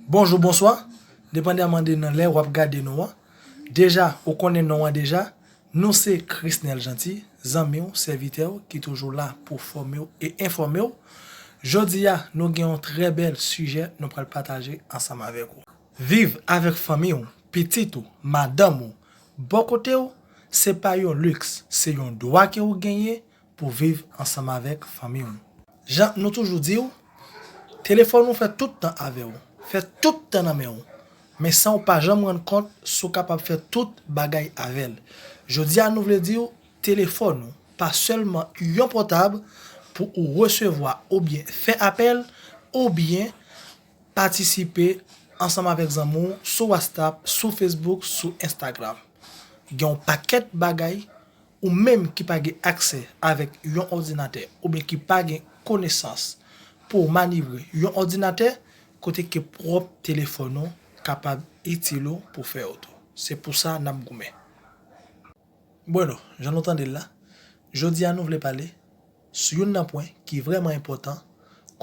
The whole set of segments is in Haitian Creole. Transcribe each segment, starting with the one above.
Bonjou bonswa depandaman de nan lè wap gade nou an deja ou konnen non an deja nou se Chrisnel Jeanty zanmiw sèvitèw ki toujou la pou fòmew e enfòmew jodia nou gen yon trè bèl sijè nou pral pataje ansanm avèk ou. Viv avèk fanmi ou, pitit ou, madanm ou, bò kotew se pa yon luxe se yon dwa ke ou genyen pou viv ansanm avèk fanmi w. Jan nou toujou di w, telefòn ou fè tout tan avè w, fè tout tan nan men w, men san w pa janm rann kont si w kapab fè tout bagay avè l. Jodi a nou vle di w, telefòn ou pa sèlman yon pòtab pou ou resevwa oubyen fè apèl, oubyen patisipe ansanm avèk zanmi w sou wastap, sou fesbouk, sou enstagram. Gen yon pakèt bagay Ou menm ki pa gen aksè avèk yon òdinatè oubyen ki pa gen konesans pou w manyevre yon òdinatè, kote ke pwòp telefòn ou kapab itil ou pou fè yo tou. Se pou sa n ap goumen. Bueno, jan nou tande l la, jodi a nou vle pale sou youn nan pwen ki vrèman enpòtan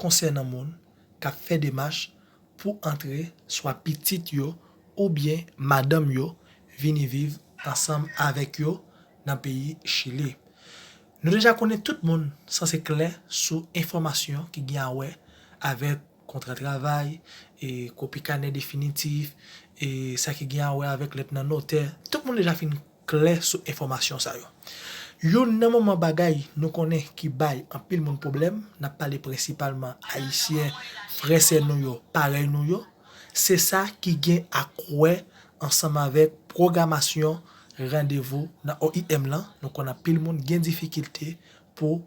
konsènan moun k ap fè demach pou antre swa pitit yo oubyen madanm yo vini viv ansanm avèk yo nan peyi Chili. Nou deja konnen tout moun sanse klè sou enfòmasyon ki gen awè avèk kontra travay, kopi kanè definitif, sa ki gen awè avèk lèt nan notè, tout moun deja fin klè sou enfòmasyon sa yo. Youn nan manman bagay nou konnen ki bay anpil moun pwoblèm, n ap pale prensipalman Ayisyen, frè sè nou yo, parèy nou yo, se sa ki gen ak wè ansanm avèk pwogramasyon randevou nan OIM lan, nou konn anpil moun gen difikilte pou.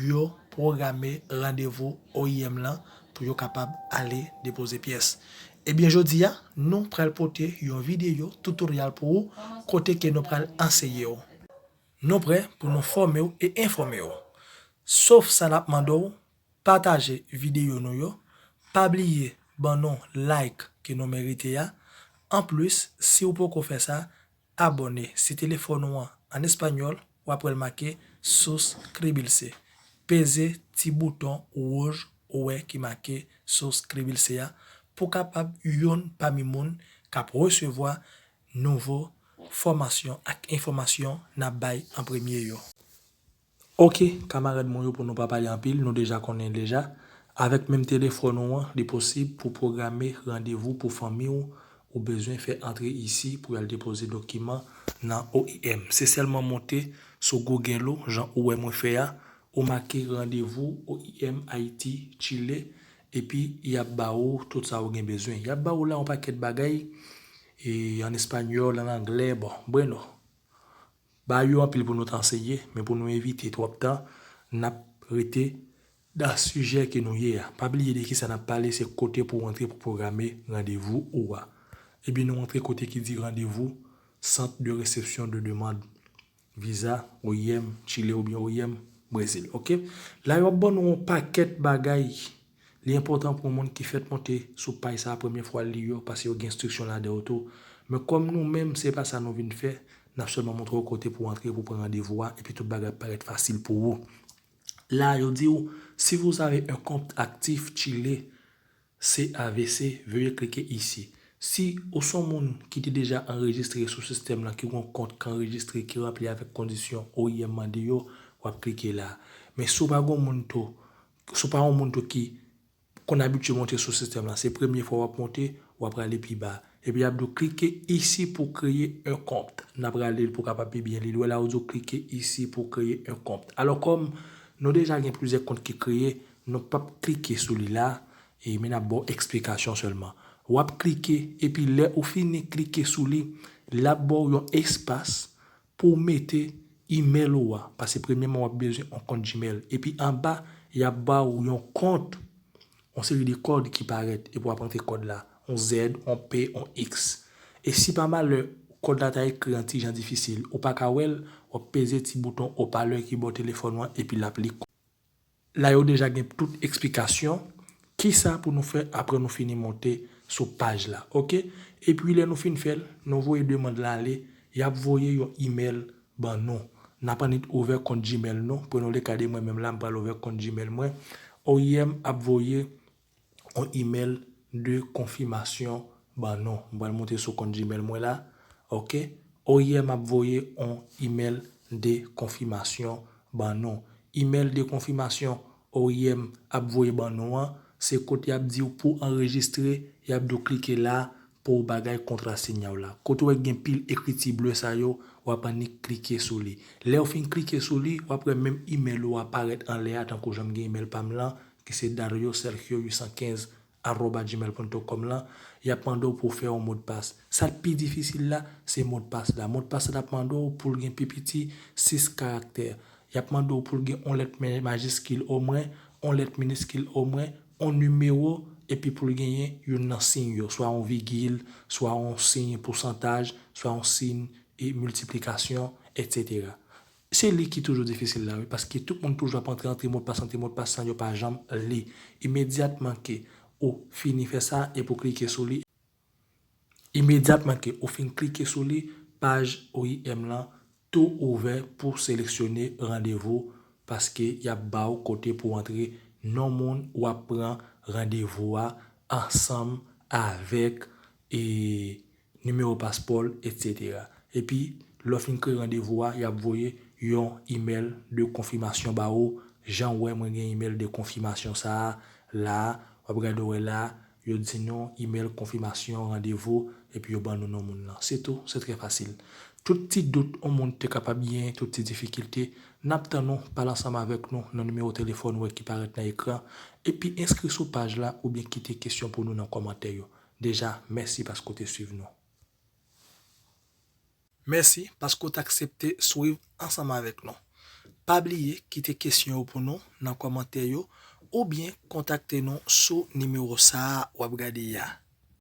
yo pwograme randevou oim lan pou yo kapab ale depoze pyès. Ebyen jodi a nou pral pote yon videyo tutorial pou ou kote ke nou pral anseye w. Nou prè pou nou fòme w e enfòme w. Sof sa nap mande w pataje videyo nou yo, pa bliye ban nou like ke nou merite a, anplis si w poko fè sa Abòne si telefòn ou an an espanyòl w ap wè l make Suscribirse. Peze ti bouton wouj ou wè ki make Suscribirse a pou w kapab youn pami moun k ap resevwa nouvo fòmasyon ak enfòmasyon n ap bay an premye yo. Ok kamarad mwen yo pou nou pa pale anpil nou deja konnen deja avèk menm telefòn ou an li posib pou pwograme randevou pou fanmi w ou bezwen fè antre isi pou y al depoze dokiman nan oim se sèlman monte sou google ou jan ou wè mwen fè a ou make randevou oim ayiti chile epi y ap ba ou tout sa ou gen bezwen y ap ba ou la yon pakèt bagay an espanyòl an anglè bon breno. Ba yo anpil pou nou t anseye, men pou nou evite twòp tan, n ap rete nan sijè ke nou ye a. Pa bliye de kisa n ap pale, se kote pou w antre pou pwograme randevou ou a. Ebyen nou antre kote ki di randevou, Centre de Réception de Demande Visa, oim, Chile oubyen oim, Brezil. Ok. La yo ap ban nou yon pakèt bagay. Li enpòtan pou moun ki fèt monte sou paj sa premye fwa li yo pase yo gen enstriksyon ladan yo tou. Men kòm nou menm se pa sa nou vin fè, nap sèlman montre w kote pou antre pou pran randevou a epi tout bagay ap parèt fasil pou ou. La yo di w si vous avez un compte actif Chile CAVC veuillez cliquer ici. Si ou son moun ki te deja anrejistre sou sistèm lan ki gon kont ki anrejistre ki ranpli avèk kondisyon OIM mande yo wap klike la. Men si w pa gon moun tou Si w pa yon moun tou ki konn abitye monte sou sistèm lan, se premye fwa w ap monte, w ap rale pi ba. Epi y ap di w klike isi pou kreye un compte. N ap rale l pou w kapab pi byen li l. Ou wè la yo di w klike isi pou kreye un compte. Alò kòm nou deja gen plizyè kont ki kreye, nou pap klike sou li la, e men n ap ba w eksplikasyon sèlman. W ap klike, epi lè ou fini klike sou li, l ap ba w yon espas Pou w mete email ou a, pase premyeman wap bezwen on kont gmail, epi anba yap ba ou yon kont, on seri de kòd ki parèt, epi wap antre kòd la, on Z, on P, on X. E si pa malè kòd la ta ekri an ti jan difisil, ou paka wèl, wap peze ti bouton opalè ki bò telefòn ou an epi lap li kòd. La yo deja gen tout eksplikasyon kisa pou nou fè aprè nou fini monte sou paj la ok epi lè nou fin fèl nou voye demand la ale yap voye yon email ban nou nap annik ouvè kont gmail nou prenole kade mwen menm la m pral ouvè kont gmail mwen oim ap voye yon email de konfimasyon ban nou. M pral moute sou kont Gmail mwen la. Ok. Oyè m ap voye yon email de konfimasyon ban nou. Email de konfimasyon oyè m ap voye ban nou an, se kote y ap di w pou w anrejistre, y ap di w klike la pou w bagay kontra sinya w la. Kote w wè gen pil ekriti ble sa yo, w ap annik klike sou li. Lè w fin klike sou li, w ap wè menm email ou a parèt anlè a tankou jan m gen email pa m lan, ki se dariosergio815 arroba gmail punto com lan, y ap mande w pou w fè yon modpas. Sa k pi difisil la, se modpas la. Modpas la ap mande w pou l gen pi piti 6 karaktè. Y ap mande w pou l gen yon lèt majiskil omwen, yon lèt miniskil omwen, yon nimewo, epi pou l genyen youn nan siy yo, swa yon vigil, swa yon siy pousantaj, swa yon siy miltiplikasyon, etsetera. Se li ki toujou difisil la wi paske tout moun toujou ap antre antre mo pas antre mo pas san yo pa janm li imedyatman ke ou fini fè sa epi ou klike sou li imedyatman ke ou fin klike sou li paj OIM lan tou ouvè pou seleksyone randevou paske yap baw kote pou antre non moun wap pran randevou a ansanm avèk e nimewo paspò l, etc. Epi, lè w fin kreye randevou a, y ap voye yon imèl de konfimasyon ba ou, jan w wè mwen gen imèl de konfimasyon sa a la a, w ap gade w wè la a, yo di nou imèl konfimasyon randevou, epi yo ban nou non moun lan. Se tou, se trè fasil. Tout ti dout yon moun te kapab genyen, tout ti difikilte, n ap tann ou, pale ansanm avèk nou nan nimewo telefòn ou wè ki parèt nan ekran, epi enskri sou paj la oubyen kite kesyon pou nou nan kòmantè yo. Deja, mèsi paske ou te swiv nou. Mèsi paske ou t aksepte swiv ansanm avèk nou. Pa bliye kite kesyon yo pou nou nan kòmantè yo oubyen kontakte nou sou nimewo sa a w ap gade a.